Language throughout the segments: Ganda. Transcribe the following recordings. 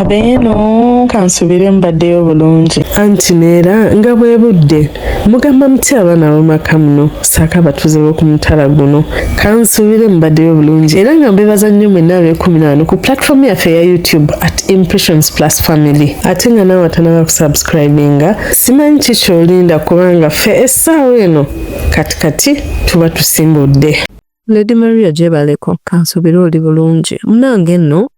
abeeno kansubire mbaddeyo bulungi anti neera nga bwe budde mugamba muti abaana bamaka muno saako abatuuze b'oku mutala guno kansubire mbaddeyo bulungi era nga mbebaza nnyo mwenna ab'ekumi naano ku platform yaffe eya youtube at impressions plus family ate nga naawe atanaba kusubscribinga simanyi ki kyolinda kubanga ffe essaawa eno kati kati tuba tusimbudde lady maria gyebaleko kansubire oli bulungi munange nno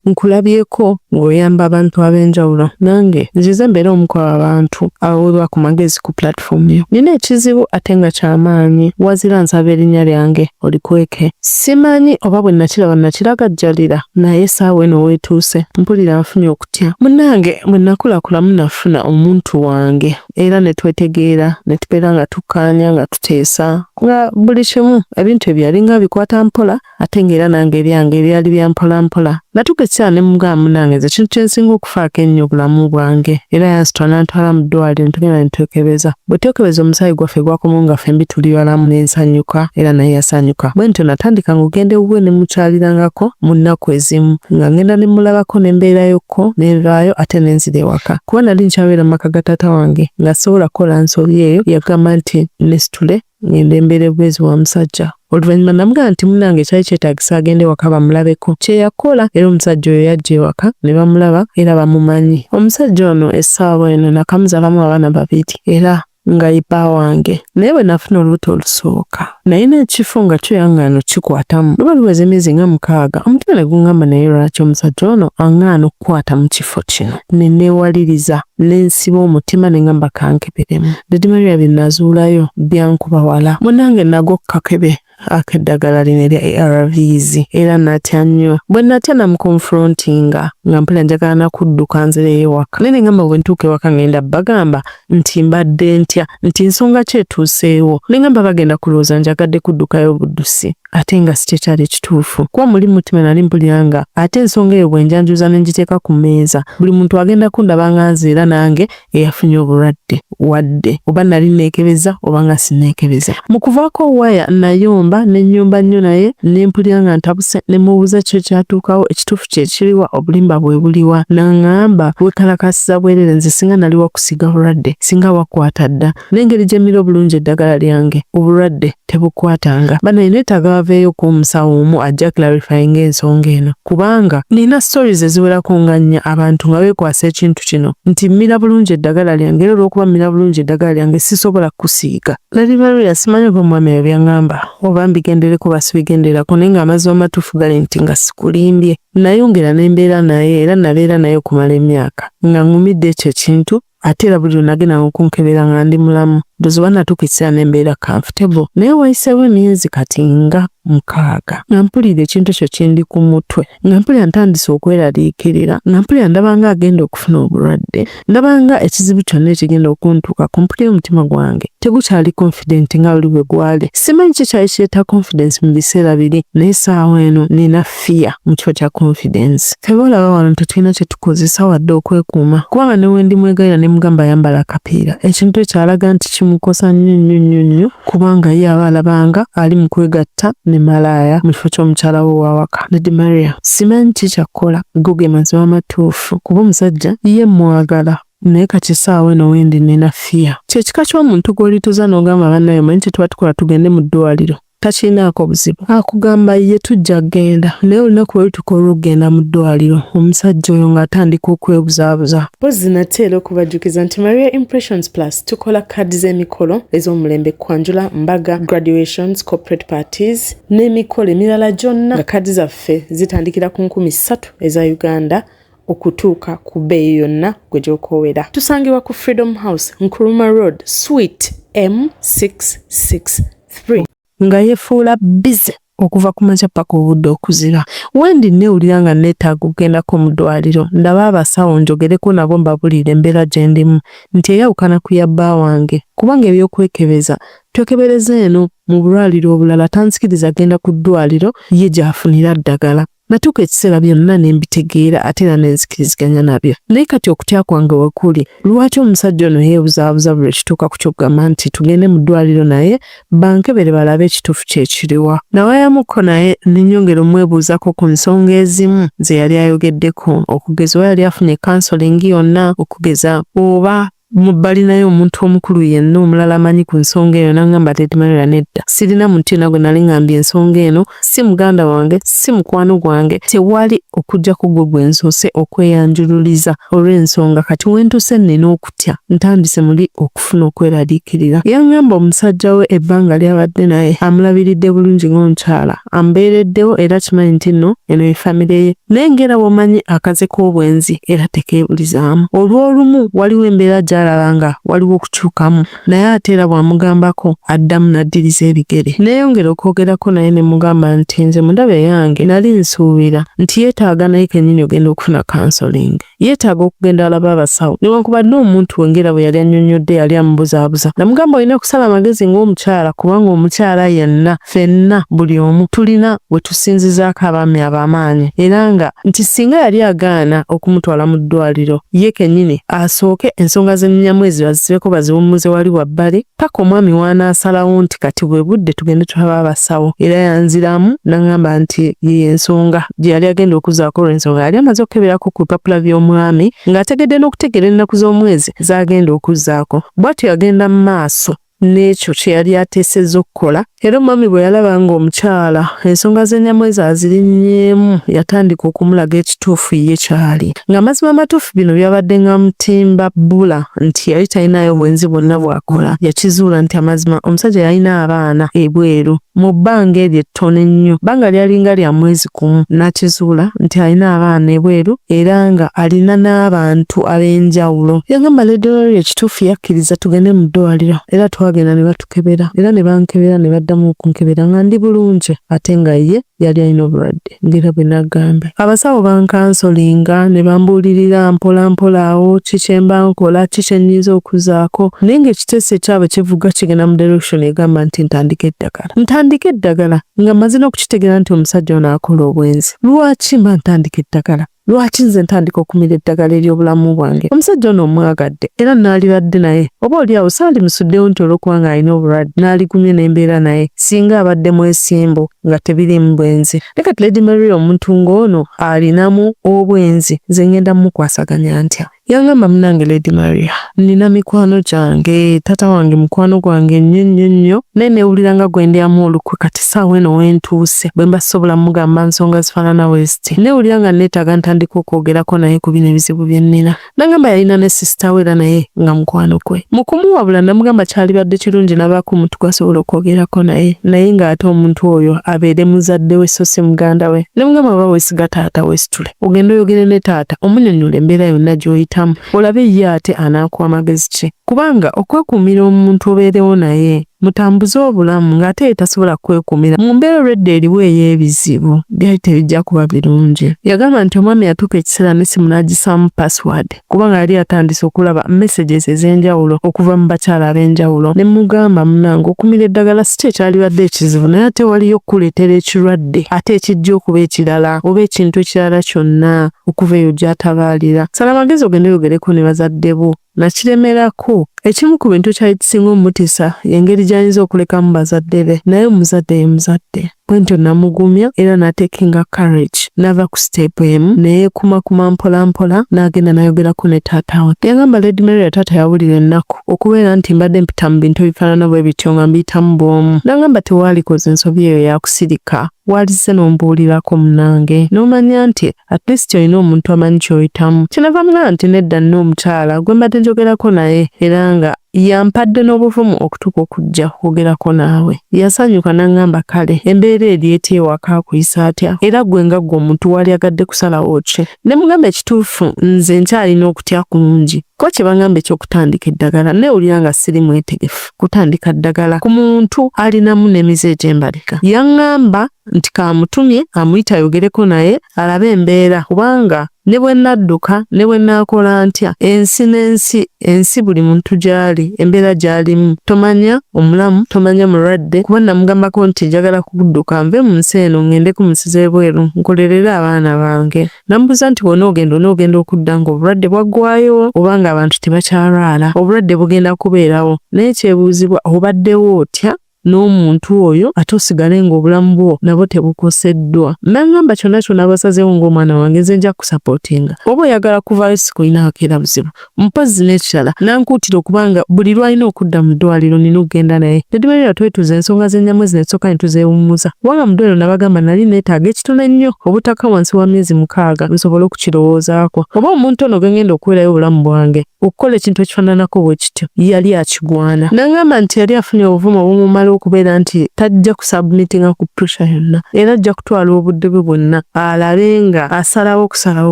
nkulabyeko ng'oyamba abantu ab'enjawulo nange nzize mbeera omu ku abantu abaweebwa ku magezi ku platform yo nina ekizibu ate nga kyamaanyi wazira nsaba erinnya lyange olikweke simanyi oba bwe nakiraba nakiragajjalira naye saawa eno weetuuse mpulira nfunye okutya munange bwe nakulakulamu nafuna omuntu wange era ne twetegeera ne tubeera nga tukkaanya nga tuteesa nga buli kimu ebintu ebyo yalinga bikwata mpola ate ng'era nange ebyange ebyali bya mpolampola natuuka ekiseera ne mugamba munange nze ekintu kye nsinga okufaako ennyo obulamu bwange era yansitwa n'antwala mu ddwaliro ne tugenda ne twekebeza bwe twekebeza omusaayi gwaffe gwakomawo nga ffembi tuli balamu ne nsanyuka era naye yasanyuka bwe ntyo natandika ng'ogenda ewuwe ne mukyalirangako mu nnaku ezimu nga ngenda ne mulabako ne mbeerayokko ne nvaayo ate ne nzira ewaka kuba nali nkyabeera mu maka ga taata wange nga sisobola kukola nsobi eyo yagamba nti nesitule ngende mbeere bwezi wa musajja oluvannyuma namugamba nti munange kyali kyetagisa agende waka bamulabeko kyeyakola era omusajja oyo yajja ewaka ne bamulaba era bamumanyi omusajja ono essaawa eno nakamuzalamu abaana babiri era nga ipa wange naye bwe nafuna olubuto olusooka naye n'ekifo nga kyo yangaano kikwatamu luba luweza emyezi nga mukaaga omutima ne gungamba naye lwaki omusajja ono angaana okukwata mu kifo kino ne neewaliriza ne nsiba omutima ne ngamba kanke birimu. Dady Maria byenazuulayo byankuba wala. Munange nago kakebe akeddagala lino erya ARVs era natya nnyo. Bwenatya namuconfrontinga nga mpulira njagala nakudduka nzireyo ewaka naye nengamba bwentuuka ewaka ngenda bagamba nti mbadde ntya nti nsonga ki etuuseewo nengamba bagenda kulowooza njagadde kuddukayo buddusi ate nga sikyekyali ekituufu kuba muli mutima nali mpulira nga ate ensonga eyo bwenjanjuza nengiteeka ku mmeeza buli muntu agenda kundaba nga nze era nange eyafunye obulwadde wadde oba nali neekebeza oba nga sineekebeza. Mu kuvaako waya nayomba ne nnyomba nnyo naye ne mpulira nga ntabuse ne mubuuza kyo kyatuukawo ekituufu kye kiriwa obulimba bwe buliwa n'ang'amba weekalakaasiza bwereere nze singa nali wakusiiga bulwadde singa wakwata dda N'engeri gye mmira obulungi eddagala lyange, obulwadde tebukwatanga. Bannange neetaaga baveeyoko omusawo omu ajja clarifyinga ensonga eno kubanga nina stories eziwerako nga nnya abantu nga beekwasa ekintu kino nti mmira bulungi eddagala lyange era olw'okuba mmira bulungi eddagala lyange sisobola kukusiiga. Lady Maria simanyi oba omwami ebyo byangamba oba mbigendereko oba sibigenderako naye ng'amazima amatuufu gali nti nga sikulimbye nayongera ne mbeera naye era nabeera naye okumala emyaka nga ngumidde ekyo ekintu ate era buli lwenagendanga okunkebera nga ndi mulamu ndozi oba natuuka ekiseera ne mbeera comfortable naye wayiseewo emyezi kati nga mukaaga nga mpulira ekintu ekyo kindi ku mutwe nga mpulira ntandise okweraliikirira nga mpulira ndabanga agenda okufuna obulwadde ndabanga ekizibu kyonna ekigenda okuntuuka ku mpulira omutima gwange tegukyali confident nga buli bwe gwali simanyi ki kyali kireeta confidence mu biseera biri naye saawa eno nina fear mu kifo kya confidence. Ffe boolaba wano tetulina kye tukozesa wadde okwekuuma kubanga ne wendi mwegalira ne mugamba ayambala akapiira ekintu ekyo alaga nti kimukosa nnyo nnyo nnyo nnyo kubanga ye aba alabanga ali mu kwegatta ne malaaya mu kifo ky'omukyala we wawaka. Lady Maria, simanyi ki kyakkola go ge mazima amatuufu kuba omusajja ye mwagala naye kati essaawa eno wendi nina fear. Kyekika ky'omuntu gw'olituza n'ogamba bannaye omanyi kye tuba tukola tugende mu ddwaliro. takirinaako buzibu akugamba ye tujja kugenda naye olunaku lwe lutuka olw'okugenda mu ddwaliro omusajja oyo ng'atandika okwebuzaabuza mpozzi nate era okubajjukiza nti maria impressions plus tukola kaadi z'emikolo ez'omulembe kwanjula mbaga graduations corporate parties n'emikolo emirala gyonna nga kaadi zaffe zitandikira ku nkumi ssatu eza uganda okutuuka ku bbeeyi yonna gwe gy'okoowera. Tusangibwa ku Freedom House, Nkrumah Road, Suite M663. Nga yefuula bbize okuva ku makya paka obudde okuziba. Wendi nneewulira nga nneetaaga okugendako mu ddwaaliro ndabe abasawo njogereko nabo mbabuliire embeera gye ndimu nti eyawukana ku ya bba wange kubanga eby'okwekebeza twekebereza eno mu bulwaliro obulala tanzikiriza genda ku ddwaaliro ye gy'afunira ddagala. Natuuka ekiseera byonna ne mbitegeera ate era ne nzikiriziganya nabyo. Naye kati okutya kwange we kuli, lwaki omusajja ono yeebuzaabuza buli ekituuka ku ky'okugamba nti tugende mu ddwaliro naye bankebere balabe ekituufu kye kiriwa? Nawayamuko naye ne nyongera omwebuuzako ku nsonga ezimu ze yali ayogeddeko, okugeza oba yali afunye kansolingi yonna, okugeza oba Mu balinayo omuntu omukulu yenna omulala amanyi ku nsonga eyo nangamba Lady Maria nedda. Sirina muntu yena gwe nali ngambye ensonga eno, si muganda wange, si mukwano gwange, tewali okujjako gwe gwe nsoose okweyanjululiza olw'ensonga kati wentuse nina okutya ntandise muli okufuna okweraliikirira. Yangamba omusajja we ebbanga lyabadde naye amulabiridde bulungi ng'omukyala. ambeereddewo era kimanyi nti nno eno ye famire ye naye ng'era bw'omanyi akaze k'obwenzi era tekeebulizaamu olw'olumu waliwo embeera gy'alaba nga waliwo okukyukamu naye ate era bw'amugambako addamu n'addiriza ebigere neeyongera okwogerako naye ne mugamba nti nze mundaba eyange nali nsuubira nti yeetaaga naye kennyini ogenda okufuna kansolingi yeetaaga okugenda alaba abasawo newankubadde omuntu wengera bwe yali annyonnyodde yali amubuzaabuza namugamba olina kusala amagezi ng'omukyala kubanga omukyala yenna fenna buli omu tulina we tusinzizaako abaami ab'amaanyi era nga nti singa yali agaana okumutwala mu ddwaliro ye kennyini asooke ensonga z'ennyinyamu ezo azisibeko baziwummuze wali wabbali paka omwami wanaasalawo nti kati bwe budde tugende tulaba abasawo era yanziramu nangamba nti yeye ensonga gye yali agenda okuzaako olwensonga yali amaze okukeberako ku bipapula by'omwami ng'ategedde n'okutegeera ennaku z'omwezi zagenda okuzaako bwatyo yagenda mu maaso n'ekyo kye yali ateesezza okukola Era omwami bwe yalaba ng'omukyala ensonga z'enyamwezi azirinnyeemu yatandika okumulaga ekituufu ye kyali. Ng'amazima amatuufu bino byabadde ng'amutimba bbula nti yali talinayo bwenzi bwonna bw'akola. Yakizuula nti amazima omusajja yalina abaana ebweru mu bbanga eryo ettono ennyo, bbanga lyalinga lya mwezi gumu, n'akizuula nti alina abaana ebweru era nga alina n'abantu ab'enjawulo. Yagamba Lady Laurie ekituufu yakkiriza tugende mu ddwaaliro era twagenda ne batu okukebera era ne bankebera ne baddamu okunkebera nga ndi bulungi ate nga ye yali alina obulwadde ng'era bwe nagambye. Abasawo bankansolinga ne bambuulirira mpola mpola awo ki kye mba nkola ki kye nnyinza okuzaako naye ng'ekiteeso ekyabwe kivuga kigenda mu direction egamba nti ntandike eddagala. Ntandike eddagala nga mmaze n'okukitegeera nti omusajja ono akola obwenzi. Lwaki mba ntandika eddagala? Lwaki nze ntandika okumira eddagala ery'obulamu bwange? Omusajja ono omwagadde era naalibadde naye, oba oli awo saalimusuddewo nti olw'okuba ng'alina obulwadde naaligumye ne mbeera naye singa abadde mwesimbu nga tebiriimu bwenzi. Ne kati Lady Maria omuntu ng'ono alinamu obwenzi nze ngenda mukwasaganya ntya? Yangamba munange Lady Maria, nina mikwano gyange, taata wange mukwano gwange nnyo nnyo nnyo, naye newulira nga gwe ndyamu olukwe kati saawa eno wentuuse bwemba sobola mugamba nsonga zifaanana weziti, newulira nga neetaaga ntandika okwogerako naye ku bino ebizibu bye nnina. Nangamba yalina ne sisita we era naye nga mukwano gwe. Mu kumuwabula namugamba kyalibadde kirungi nabaako omuntu gwasobola okwogerako naye, naye nga ate omuntu oyo abeere muzadde we so si muganda we. Nemugamba bw'oba weesiga taata weesitule. ogenda oyogere ne taata omunyonyola embeera yonna gy'oyitamu olabe ye ate anaakuwa magezi ki kubanga okwekuumira omuntu obeerewo naye mutambuze obulamu ng'ate ye tasobola kwekuumira mu mbeera olwedda eriwo ey'ebizibu byali tebijja kuba birungi yagamba nti omwami yatuuka ekiseera n'essimu n'agisaamu pasiwaadi kubanga yali atandise okulaba messages ez'enjawulo okuva mu bakyala ab'enjawulo ne mugamba munange okumira eddagala si kye kyalibadde ekizibu naye ate waliyo okukuleetera ekirwadde ate ekijja okuba ekirala oba ekintu ekirala kyonna okuva eyo gy'atabaalira sala amagezi ogende oyogereko ne bazadde bo nakiremerako ekimu ku bintu kyali kisinga omutisa y'engeri gy'ayinza okulekamu bazadde be naye omuzadde ye muzadde Bwentyo namugumya era natekinga courage nava ku step emu neyekumakuma mpolampola nagenda nayogerako ne taata we. Yagamba Lady Mary ya taata yawulira ennaku okubeera nti mbadde mpita mu bintu ebifaanana bwe bityo nga mbiyitamu bwomu. Nangamba tewaalikoze nsobi eyo yakusirika walizze n'ombuulirako munange n'omanya nti at least olina omuntu amanyi kyoyitamu. Kyenava mugamba nti nedda nina omukyala gwe mbadde njogerako naye era nga Yampadde n'obuvumu okutuuka okujja okwogerako naawe. Yasanyuka n'aŋŋamba kale embeera eri etya ewaka akuyisa atya era ggwe nga ggwe omuntu waalyagadde kusalawo ki? Ne mugamba ekituufu nze nkyalina okutya kungi. Ko kye baŋŋamba eky'okutandika eddagala nneewulira nga siri mwetegefu kutandika ddagala ku muntu alinamu n'emize egy'embalika. Yaŋŋamba nti kaamutumye amuyite ayogereko naye alabe embeera kubanga Ne bwe nadduka, ne bwe naakola ntya, ensi n'ensi, ensi buli muntu gy'ali, embeera gy'alimu, tomanya omulamu, tomanya mulwadde, kuba namugambako nti njagala kudduka nve mu nsi eno ngende ku nsi z'ebweru nkolerere abaana bange. Namubuuza nti bw'onoogenda onoogenda okudda ng'obulwadde bwaggwayo oba ng'abantu tebakyalwala? Obulwadde bugenda kubeerawo, naye kyebuuzibwa obaddewo otya? n'omuntu oyo ate osigale ng'obulamu bwo nabwo tebukoseddwa. Nangamba kyonna kyonna basazeewo ng'omwana wange nze nja kusapootinga. Oba oyagala kuvaayo sikulina akeera buzibu. Mpozzi n'ekirala nankuutira okuba nga buli lw'alina okudda mu ddwaaliro nnina okugenda naye. Nedimerera twetuuza ensonga za Nnyamwezi ne tusooka ne tuzeewummuza kubanga mu ddwaaliro nabagamba nali neetaaga ekitono ennyo obutaka wansi wa myezi mukaaga nsobole okukirowoozaako oba omuntu ono gwe ng'enda okuweerayo obulamu bwange. okukola ekintu ekifaananako bwe kityo yali akigwana n'aŋŋamba nti yali afunye obuvumu obumumala okubeera nti tajja kusabumitinga ku puresha yonna era ajja kutwala obudde bwe bwonna alabe nga asalawo okusalawo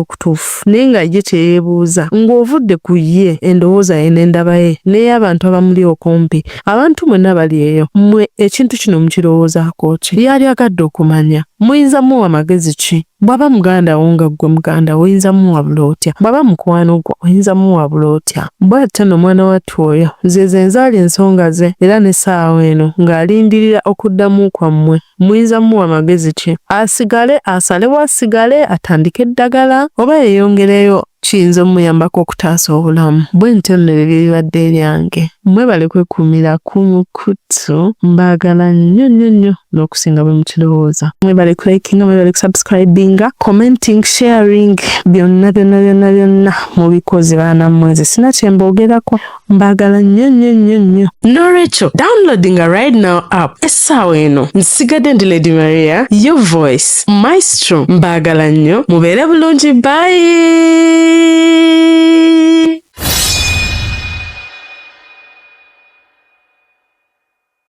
okutuufu naye nga ye kye yeebuuza ng'ovudde ku ye endowooza ye n'endaba ye n'ey'abantu abamuli okumpi abantu mwenna bali eyo mmwe ekintu kino mukirowoozaako ki yali agadde okumanya muyinza muwa magezi ki Bwaba muganda wo nga ggwe muganda wo oyinza muwabula otya? Bwaba mukwano gwo oyinza muwabula otya? Bw'atyo no mwana wattu oyo ze ze nzaali ensonga ze era ne ssaawa eno nga alindirira okuddamu kwammwe. Muyinza muwa magezi ki? Asigale, asalewo asigale, atandike eddagala oba yeyongereyo? kiyinza omuyambako okutaasa obulamu bwe ntyo nno ebyo byebibadde ebyange mwebale kwekumira kumu kuttu mbagala nnyo nnyo nnyo n'okusinga bwe mukirowooza mwebale kulikinga mwebale kusubscribinga commenting sharing byonna byonna byonna byonna mubikoze baana mmwe nze sina kyemboogerako mbagala nnyo nnyo nnyo nnyo n'olwekyo downloadinga right now app essaawa eno nsigadde ndi lady maria yo voice maestro mbagala nnyo mubeere bulungi bayi